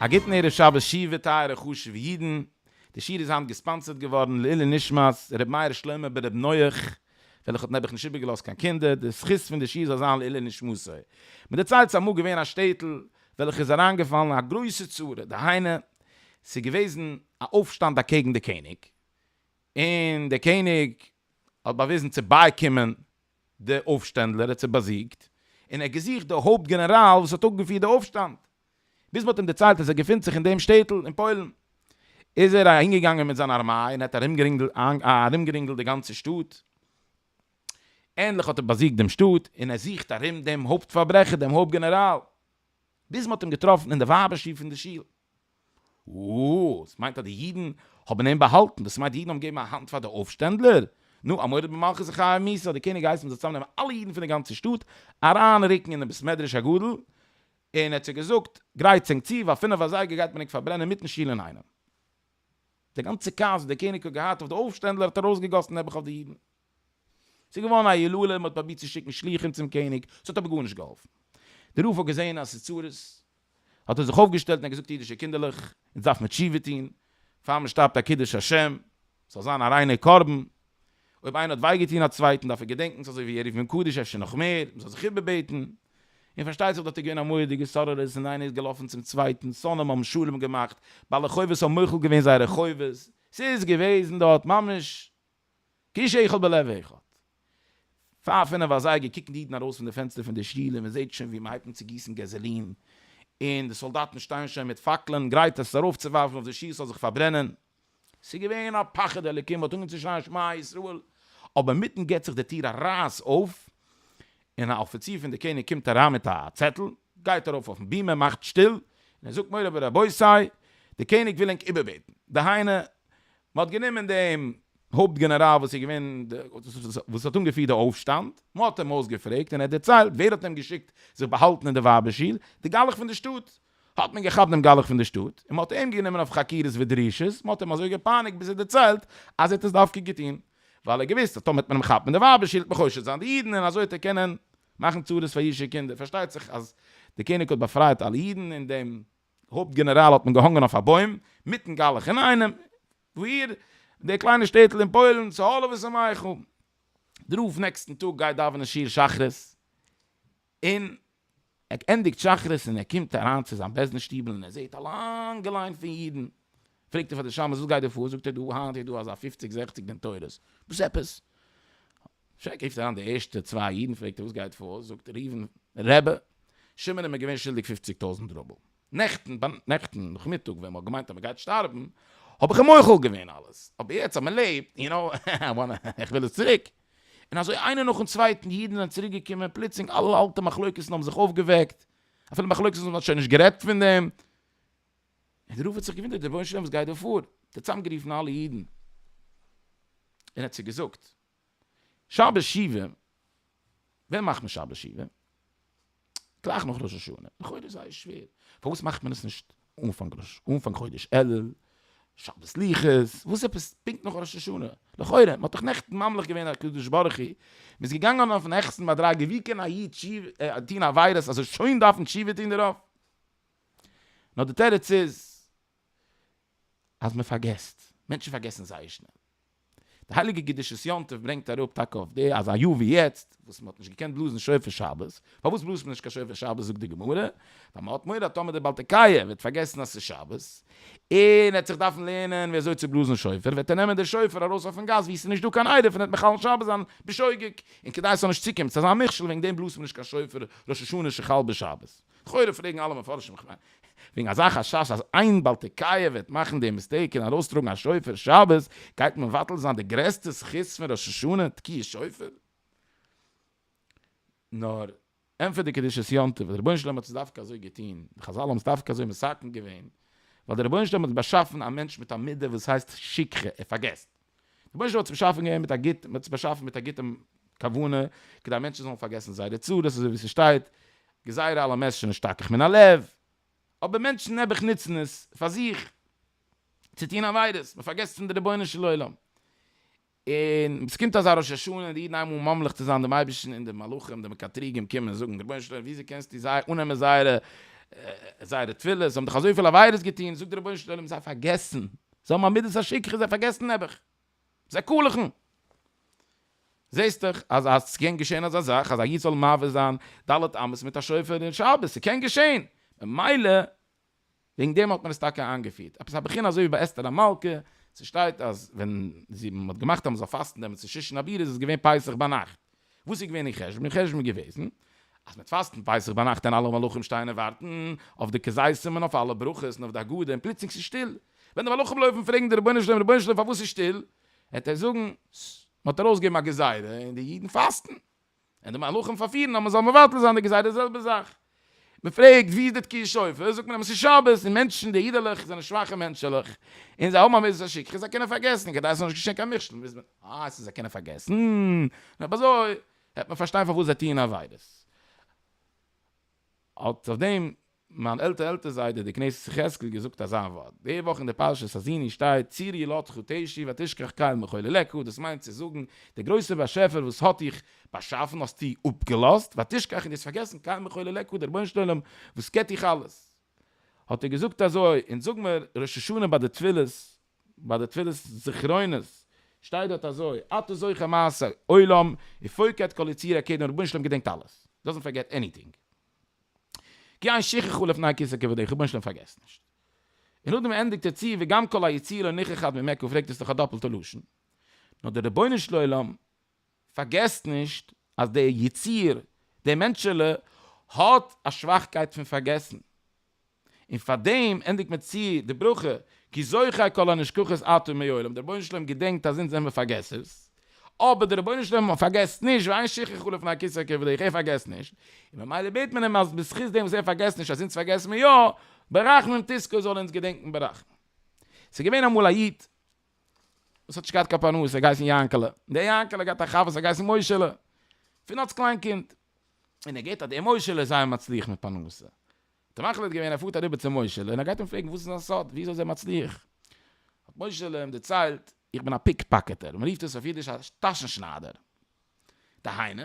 א גוטן ערב שבת שיעוה טייערע חשובע אידן, די שיעור איז היינט געספאנסערט געווארן לעילי נשמת ר' מאיר שלמה ב ר נח וועלכע האט נעבעך נישט איבערגעלאזט קיין קינדער, די זכות פון די שיעור זאל זיין לעילי נשמתו. מען דערציילט ס'איז אמאל געווען א שטעטל וועלכע איז אריינגעפאלן אין א גרויסע צרה, דהיינו ס'איז געוועזן א אויפשטאנד אקעגן די קעניג, און דער קעניג האט באוויזן צו בייקומען די אויפשטענדלער, ער האט זיי באזיגט, און ער האט געזוכט די הויפט גענעראל וואס האט אפגעפירט די אויפשטאנד, ביז מען האט אים דערציילט אז ער געפינט זיך אין דעם שטעטל אין פוילן, איז ער אהינגעגאנגען מיט זיין ארמיי און ער האט ארומגערינגלט די גאנצע שטאט, ענדליך האט ער באזיגט דעם שטאט, און ער זוכט ארום דעם הויפט פארברעכער, דעם הויפט גענעראל, ביז מען האט אים געטראפן אין די ווייבער שול פון די שול. אָ, דאָס מיינט אַז די ייִדן האָבן אים באַהאַלטן? דאָס מיינט די ייִדן האָבן געגעבן אַ האַנט פֿאַר די אויפֿשטענדלער? נו, אַ מורד במלכות און חיה ומיתה! האָט דער קעניג געהייסן מ'זאָל צוזאַמנעמען אַלע ייִדן פֿון דער גאַנצער שטאָט, אַרײַנרוקן אין דעם בית-מדרש הגדול, און ער האָט זיי געזאָגט, גרייט צונג צו, ווײַל פֿינף אַזייגער גייט מען ענק פֿאַרברענען מיטן שול אין איינעם. די גאַנצע כעס, וואָס דער קעניג האָט געהאַט אויף די אויפֿשטענדלער, האָט אַרויסגעגאָסן נעבעך אויף די ייִדן. ס'איז געווארן א הילולא, מ'האט פרובירט צו שיקן שליחים צום קעניג, ס'האט אבער גארנישט געהאלפן. דער רב האט געזען אז ס'איז צרות, האט ער זיך אויפגעשטעלט און געזאגט, אידישע קינדערלעך, אונז דארף מען תשובה טון, פאר מען שטארבט א קידוש השם, ס'זאל זיין א ריינער קרבן, אויב איינער האט וויי געטון א צווייטן, דארף ער געדענקן ס'אזוי ווי ער רופט אים קדוש אפשר נאך מער, מ'זאל זיך איבערבעטן. און פארשטייט זיך דארט איז געווען א מורא'דיגע סוררות, און איינער איז געלאפן צום צווייטן, שונאים האבן שלום געמאכט, בעלי חובות האבן מוחל געווען זייערע חובות, ס'איז געוועזן דארט ממש קיש איכל בלב אחד. פאר פינף אזייגער קוקן די אידן ארויס פון די פענסטער פון די שול און מען זעט שוין ווי מען הייבט אן צו גיסן געזעלין און די סאלדאטן שטייען שוין מיט פאקלען גרייט עס ארויפצואווארפן אויף די שול ס'זאל זיך פארברענען. ס'איז געווען א פחד אלקים, מ'האט אנגעהויבן צו שרייען שמע ישראל, אבער אינמיטן גיבט זיך די טיר א רייס אויף און א אפיציר פון די קעניג קומט אריין מיט א צעטל, גייט ארויף אויפן בימה, מאכט שטיל און ער זאגט מורי ורבותי, די קעניג וויל ענק איבערבעטן, דהיינו מען האט גענומען דעם הויפט גענעראל וואס איז געווען וואס האט אנגעפירט די אויפשטאנד, מען האט אים אויסגעפרעגט און ער האט דערציילט ווער האט אים געשיקט זיך באהאלטן אין די ווייבער שול, די גלח פון די שטאט. האט מען געכאפט דעם גלח פון די שטאט און מען האט אים גענומען אויף חקירות ודרישות, מען האט אים אזוי געפייניגט ביז ער האט דערציילט אז ער האט עס דווקא געטון ווייל ער האט געוואוסט אז טאמער וועט מען אים כאפן אין די ווייבער שול וועט מען חושד זיין די אידן און אזוי וועט ער קענען מאכן צרות פאר אידישע קינדער, פארשטייט זיך אז דער קעניג האט באפרייט אלע אידן און דעם הויפט גענעראל האט מען געהאנגען אויף א בוים, מיטן גלח אינאיינעם, וואו דער קליינער שטעטל אין פוילן, צו האלעוועס און מייכל. דער רב נעקסטן טאג גייט דאווענען שיעור שחרית, און ער ענדיגט שחרית און ער קומט אריין צו זיין בעסטן שטיבל און ער זעט א לאנגע ליין פון אידן, פרעגט ער פאר די שמש וואס גייט דא פאר, זאגט ער דא היינט איז דא אזא פופציג זעכציג בן תורות, וואס עפעס? שרעק רופט אריין די ערשטע צוויי אידן פרעגט ער וואס גייט פאר, זאגט ראובן רעבע, שמעון איז מיר געווען שולדיג פופציג טויזנט רובל, נעכטן נעכטן נאכמיטאג ווען מען האט געמיינט אז מען גייט שטארבן האב איך אים מוחל געווען אלעס, אבער יעצט אז מען לעבט, יו נאו, איך וויל עס צוריק. און אזוי איינער נאכן צווייטן אידן זענען צוריק געקומען, פלוצלינג אלע אלטע מחלוקת'ן האבן זיך אויפגעוועקט, אפילו מחלוקת'ן וואס מען האט שוין נישט גערעדט פון דעם, און רב האט זיך געוואונדערט רבונו של עולם וואס גייט דא פאר, האט ער צוזאם גערופן אלע אידן, און האט זיי געזאגט, שבת שבעה, ווען מאכט מען שבת שבעה? גלייך נאך ראש השנה, לכאורה איז זייער שווער, פארוואס מאכט מען עס נישט אנפאנג ראש, אנפאנג חודש אלול, שבת סליחות, וואס עפעס פונקט נאך ראש השנה, לכאורה, מען האט דאך נעכטן ממליך געווען הקדוש ברוך הוא, מען איז געגאנגען אויפן העכסטן מדרגה, ווי קען א איד טון עבירות אז ער שוין דארפן תשובה טון דערויף? נאר די תירוץ איז אז מען פארגעסט, מענטשן פארגעסן זייער שנעל. די הייליגע קדושת יום טוב ברענגט אראפ טאקע אויף די אז א יאר ווי יעצט וואס מען האט נישט געקענט בלאזן שופר שבת, פארוואס בלאזט מען נישט קיין שופר שבת זאגט די גמרא, ווייל מען האט מורא אז טאמער דער בעל תקיה וועט פארגעסן אז ס'איז שבת, און ער וועט זיך דארפן לערנען ווי אזוי צו בלאזן שופר, וועט ער נעמען די שופר ארויס אויפן גאס וואו ס'איז נישט דא קיין עירוב און ער וועט מחלל שבת זיין בשוגג, און כדי עס זאל נישט צוקומען צו אזא מכשול וועגן דעם בלאזט מען נישט קיין שופר ראש השנה שחל בשבת. לכאורה פרעגן אלע מפרשים איך מיין וועגן אזא חשש אז איין בעל תקיה וועט מאכן די מיסטעיק און ארויסטראגן א שופר שבת גייט מבטל זיין די גרעסטע זכות פון ראש השנה תקיעת שופר. נאר ענטפערט די קדושת יום טוב אז דער רבונו של עולם האט עס דווקא אזוי געטון, די חזל האבן עס דווקא אזוי מסכם געווען, ווייל דער רבונו של עולם האט באשאפן א מענטש מיט א מידה וואס הייסט שכחה, ער פארגעסט. דער באשעפער האט עס באשאפן געווען מיט א גוט, מען האט עס באשאפן מיט א גוטע כוונה, כדי מענטשן זאלן פארגעסן זייערע צרות, אזוי ווי ס'שטייט, גזירה על המסשן אשתכח מן הלב, אבער מענטשן נעבעך נוצן עס פאר זיך, צו טון עבירות, מען פארגעסט פון די רבונו של עולם, און ווען ס'קומט אזא ראש השנה און די אידן הייבן אן ממליך צו זיין דעם אייבערשטן און די מלאכים די מקטריגים קומען און זאגן, רבונו של עולם וויאזוי קענסטו זיי אננעמען זייערע זייערע תפילות, זיי האבן דאך אזויפיל עבירות געטון, זאגט דער רבונו של עולם זיי פארגעסן זיי האבן א מידת השכחה, זיי פארגעסן נעבעך. זיי קאלעכן. זעסט דאך אז אז ס'קען געשען אזא זאך אז א איד זאל מעביר זיין ד' אמות מיט א שופר אין שבת, ס'קען געשען. ממילא וועגן דעם האט מען עס טאקע איינגעפירט. עפעס א בחינה אזוי ווי ביי אסתר המלכה, ס'שטייט אז ווען זי, מ'האט געמאכט אז מ'זאל פאסטן דעם צו שושן הבירה איז עס געווען פסח ביינאכט. וואס איז געווען אין חשבון? אין חשבון איז געוועזן אז מ'וועט פאסטן פסח ביינאכט און אלע מלאכים שטייען און ווארטן אויף די כזיתים און אויף אלע ברכות און אויף די הגדה און פלוצלינג ס'איז שטיל. ווען די מלאכים לויפן פרעגן די רבונו של עולם רבונו של עולם פארוואס איז שטיל? וועט ער זאגן ס מ'האט ארויסגעגעבן א גזירה און די אידן פאסטן און די מלאכים פארפירן אז מ'זאל מבטל זיין די גזירה די זעלבע זאך מען פרעגט ווי איז די תקיעת שופר, זאגט מען אז עס איז שבת און מענטשן די אידעלעך זענען שוואכע מענטשעלעך און זיי האבן א מידות השכחה און זיי קענען פארגעסן, כדי עס זאל נישט געשען קיין מכשול מוז מען אה ס'איז זיי קענען פארגעסן, אויב אזוי העט מען פארשטיין פארוואס זיי טוען עבירות. האט אויף דעם מיין עלטער עלטער זיידע דער כנסת יחזקאל געזאגט אזא ווארט, די וואך אין די פרשת האזיני שטייט צור ילדך תשי ותשכח קל מחולי לקה, דאס מיינט צו זאגן דער גרויסער באשעפער וואס האט דיך באשאפן האסטו אפגעלאזט ותשכח און דו האסט פארגעסן קיין מחול אליך הוא דער רבונו של עולם וואס קעט דיך אלעס. האט ער געזאגט אזוי, אונז זאג מיר ראש השנה ביי די תפילות ביי די תפילות זכרונות שטייט דארט אזוי אתה זוכר מעשי עולם ופוקד כל יציר הק' דעם רבונו של עולם געדענקט אלעס דאזענט פארגעט עניטינג כי אין שכחו לפני כסא כבודיך רבונו של עולם פארגעסט נישט און נאכדעם ענדיגט ער צו וגם כל היציר הנכחד ממך פרעגט עס איז דאך א דאפלטע לשון נאר דער רבונו של עולם פארגעסט נישט אז דער יציר, דער מענטשעלע, האט א שוואכקייט פון פארגעסן. און פאר דעם ענדיגט מען צו די ברכה, כי זוכר כל הנשכחות אתה מעולם, דער רבונו של עולם געדענקט אז אונז זעמער פארגעסערס, אבער דער רבונו של עולם פארגעסט נישט, ואין שכחה לו לפני כסא כבודך, ער פארגעסט נישט, און ממילא בעט מען אים אז בזכות דעם וואס ער פארגעסט נישט אז אונז פארגעסן מיר יא, ברחמים תזכה, זאל ער אונז געדענקן ברחמים. ס'איז געווען אמאל א איד. וואס האט נישט געהאט קיין פרנסה, ער האט געהייסן יענקעלע, און דער יענקעלע האט געהאט א חבר וואס האט געהייסן מוישעלע, פון אלס קליין קינד, און ער געהערט אז דער מוישעלע איז זייער מצליח מיט פרנסה, האט ער מחליט געווען אז ער פארט אריבער צו מוישעלע און ער גייט אים פרעגן וואס איז זיין סוד, וויאזוי איז ער מצליח, האט מוישעלע אים דערציילט, איך בין א פיק פאקעטער, מען רופט עס אויף אידיש א טאשן שניידער, דהיינו,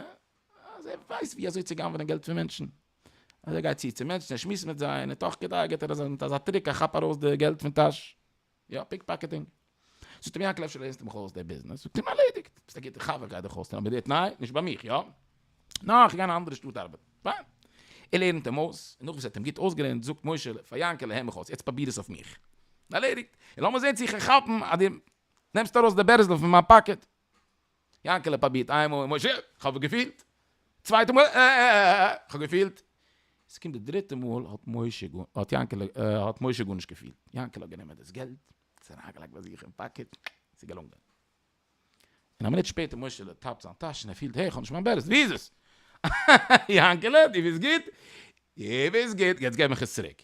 אז ער ווייסט וויאזוי צו גנב'נען געלט פון מענטשן, אז ער גייט צו צו מענטשן, ער שמועסט מיט זיי, און תוך כדי געט ער זיי מיט אזא טריק, א כאפ ארויס די געלט פון טאש. יא, פיקפאקעטינג. זאגט ער מיר יענקל אפשר לערנסטו מיך אויס די ביזנעס? זאגט אים ערלעדיגט, ביסט א גוטער חבר גיי דיך אויסלערנען אבער די תנאי, נישט ביי מיך יא? נאר איך גיי אין א אנדערע שטאט ארבעטן. פיין. ער לערנט אים אויס, און נאכדעם וואס ער האט אים גוט אויסגעלערנט זאגט משה פאר יענקעלע הער מיך אויס, יעצט פרוביר עס אויף מיך. ערלעדיגט. און לאמיר זען צו איך קען כאפן אז דו נעמסט ארויס די בערזל פון מיין פאקעט. יענקעלע פרובירט איין מאל, משה, כ'האב געפילט! צווייטע מאל, אה אה אה אה, כ'האב געפילט! עס קומט די דריטע מאל האט משה גאר, האט יענקעלע, האט משה גארנישט געפילט. יענקעלע האט גענומען דאס געלט, עס אריינגעלייגט ביי זיך אין פאקעט, עס איז געלונגען. און א מינוט שפעטער משה'לע טאפט זיין טאש און ער פילט, העי, כ'האב נישט מיין בערעס, ווי איז עס? יענקעלע, דו ביסט גוט? דו ביסט גוט, יעצט געב מיך עס צוריק.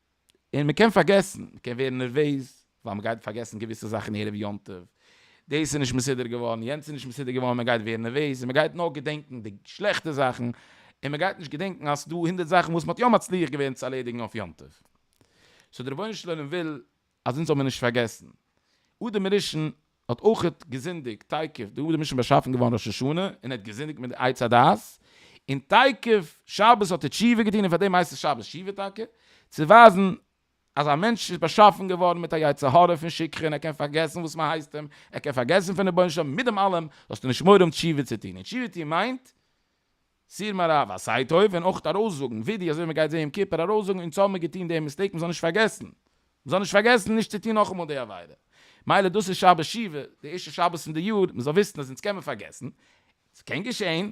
און מען קען פארגעסן, מען קען ווערן נערוועז ווייל מען גייט פארגעסן געוויסע זאכן ערב יום טוב, דאס איז נישט מסודר געווארן, יענץ איז נישט מסודר געווארן, מען גייט ווערן נערוועז און מען גייט נאר געדענקן די שלעכטע זאכן, און מען גייט נישט געדענקן אז ס'דא הונדערט זאכן וואס מען האט יא מצליח געווען צו ארלעדיגן אויף יום טוב. סאו דער רבונו של עולם וויל אז אונז זאל מען נישט פארגעסן, אדם הראשון האט אויכעט געזינדיגט, תיכף דער אדם הראשון איז באשאפן געווארן ראש השנה, און ער האט געזינדיגט מיט די עץ הדעת, און תיכף שבת האט ער תשובה געטון, און פאר דעם הייסט עס שבת שובה טאקע, צו ווייזן אז א מענטש איז באשאפן געווארן מיט א יצר הרע פון שכחה, ער קען פארגעסן וואס מען הייסט אים, ער קען פארגעסן פון רבונו של עולם, מיט דעם אלעם זאלסטו נישט מורא האבן תשובה צו טון, און תשובה טון מיינט, סיר מערב א סיי טוב און אויך ארויסזאגן ווידעא אזוי ווי מען גייט זעהן יום כיפור ארויסזאגן אונז האבן מיר געטון די מיסטעיק מען זאל נישט פארגעסן מען זאל נישט פארגעסן נישט צו טון נאכאמאל די עבירה מילא דאס איז שבת שבעה די ערשטע שבת פון די יאר מען זאל וויסן אז אונז קען מען פארגעסן ס'קען געשעהן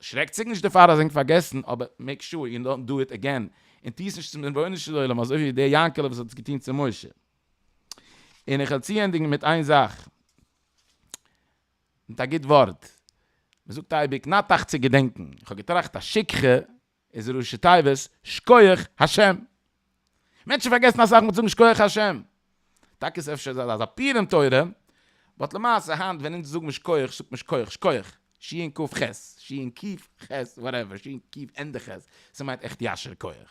שרעק זיך נישט דערפאר אז ענק פארגעסן אבער מעיק שור יו דאנט דא איט עגעין און טוה עס נישט צום רבונו של עולם אזוי ווי דער יענקעלע וואס האט עס געטון צו משה און איך וועל צוענדיגן מיט איין זאך. מיט א גוט ווארט, מען זאגט אייביג נאטאכט צו געדענקן, איך האב געטראכט אז שכחה איז ראשי תיבות שכוח השם, מענטשן פארגעסן אסאך מיט זאגן שכוח השם, טאקע איז אפשר אזא זאך אפיר אין תורה, באט למעשה היינט ווען אונז זאג מיר שכוח זאגט מען שכוח שכוח, ש און ק ח, ש און ק ח, וואטעווער, ש און ק ענדע ח, ס'מיינט עכט ישר כח.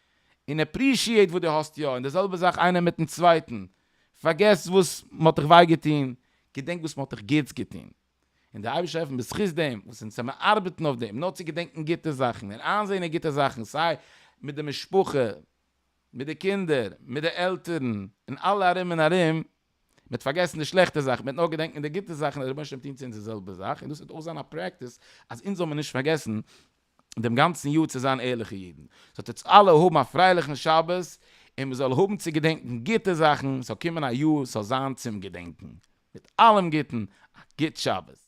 און עפרישיעט וואס דו האסט יא, און די זעלבע זאך איינער מיטן צווייטן, פארגעס וואס מען האט דיך וויי געטון, געדענק וואס מען האט דיך גוטס געטון, און דער אייבערשטער העלפן בזכות דעם וואס אונז זעמיר ארבעטן אויף דעם, נאר צו געדענקן גוטע זאכן און איינזען אין גוטע זאכן, סיי מיט די משפחה, מיט די קינדער, מיט די עלטערן, און אלע ארום און ארום, מען האט פארגעסן די שלעכטע זאכן, מען האט נאר געדענקן די גוטע זאכן, דער רבונו של עולם טון צו אונז די זעלבע זאך, און דאס וועט אויך זיין א פרעקטיס אז אונז זאל מיר נישט פארגעסן דעם גאנצן יאר צו זיין ערליכע אידן, זאלט אונז אלע האבן א פרייליכן שבת, און מען זאל האבן צו געדענקן גוטע זאכן, ס'זאל קומען א יאר וואס זאל זיין צום געדענקן, מיט אלעם גוטן, א גוט שבת.